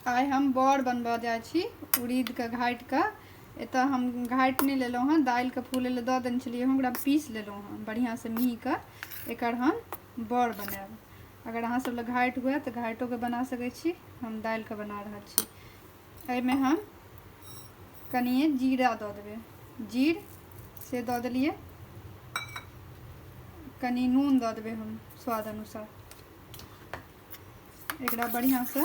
आइ हम बड़ बनबऽ जाइ छी उड़ीदके घाटिके एतऽ हम घाटि नहि लेलहुँ हँ दालिके फूलै लए दऽ देने छलियै हँ ओकरा पीस लेलहुँ हँ बढ़िआँसँ मिहीके एकर हम बड़ बनायब अगर अहाँ सब लए घाटि हुए तऽ घाटोके बना सकै छी हम दालिके बना रहल छी एहिमे हम कनिए जीरा दऽ देबै जीर से दऽ देलियै कनि नून दऽ देबै हम स्वाद अनुसार एकरा बढ़िया से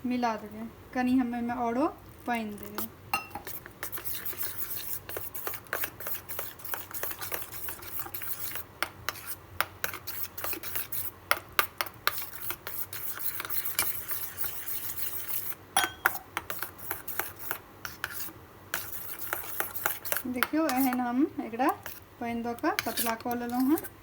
मिला देबे कनी हम एहिमे औरो पानि देबे देखियो एहन हम एकरा पानि दऽ कऽ पतला कऽ लेलहुँ हँ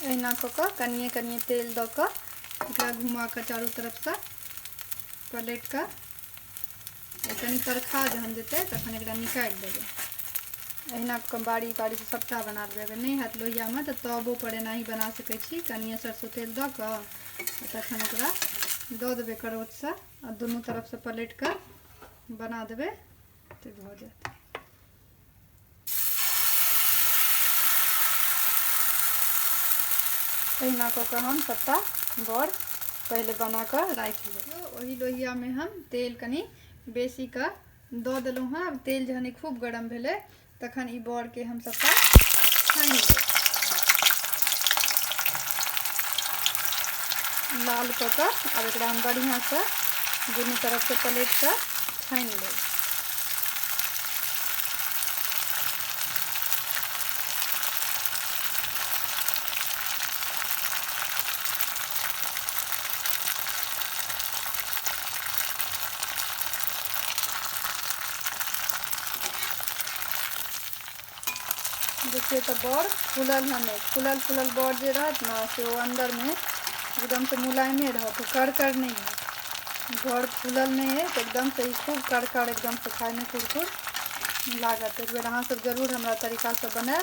एहिना कऽ कऽ कनिए कनिए तेल दऽ कऽ एकरा घुमा कऽ चारू तरफसँ पलटि कऽ कनि तरखा जहन जेतै तखन एकरा निकालि देबै अहिना बारी बारीसँ सभटा बना लेबै अगर नहि हैत लोहियामे तऽ तबोपर एनाही बना सकै छी कनिए सरसो तेल दऽ कऽ आ तखन ओकरा दऽ देबै करछसँ आ दुनू तरफसँ पलटि कऽ बना देबै तऽ भऽ जायत तहिना कऽ कऽ हम सभटा बड़ पहिले बना कऽ राखि लेब ओहि लोहियामे हम तेल कनि बेसी कऽ दऽ देलहुँ हँ आब तेल जहन खूब गरम भेलै तखन ई बड़के हम सब छानि लाल कऽ कऽ आब एकरा हम बढ़िआँसँ दुनू तरफसँ पलटि कऽ छानि लेब देखिए तो बड़ फूलल हन फूलल फूलल बड़ जो रहत ना से वो अंदर में एकदम से मुलायमे रहत कर कर नहीं है बड़ फूलल नहीं है तो एकदम से खूब कर कर एकदम से खाए में कुरकुर लागत एक बेर अहाँ सब जरूर हमारा तरीका से बनाए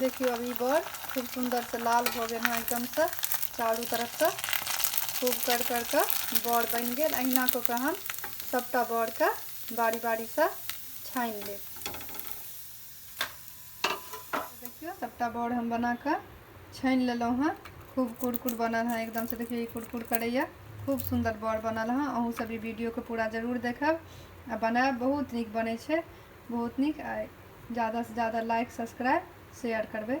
देखियो अभी बड़ खूब सुंदर से लाल हो गए हैं एकदम से चारू तरफ से खूब कर कर के बड़ बन गए अहिना कऽ के हम सबटा बड़ के बारी बारी से छानि लेब देखियौ सभटा बड़ हम बना कऽ छानि लेलहुँ हँ खूब कुरकुर बनल हँ एकदमसँ देखियौ ई कुरकुर करैए खूब सुन्दर बड़ बनल हँ अहूँसभ ई वीडियोके पूरा जरूर देखब आ बनायब बहुत नीक बनै छै बहुत नीक आ ज्यादासँ ज्यादा लाइक सब्सक्राइब शेयर करबै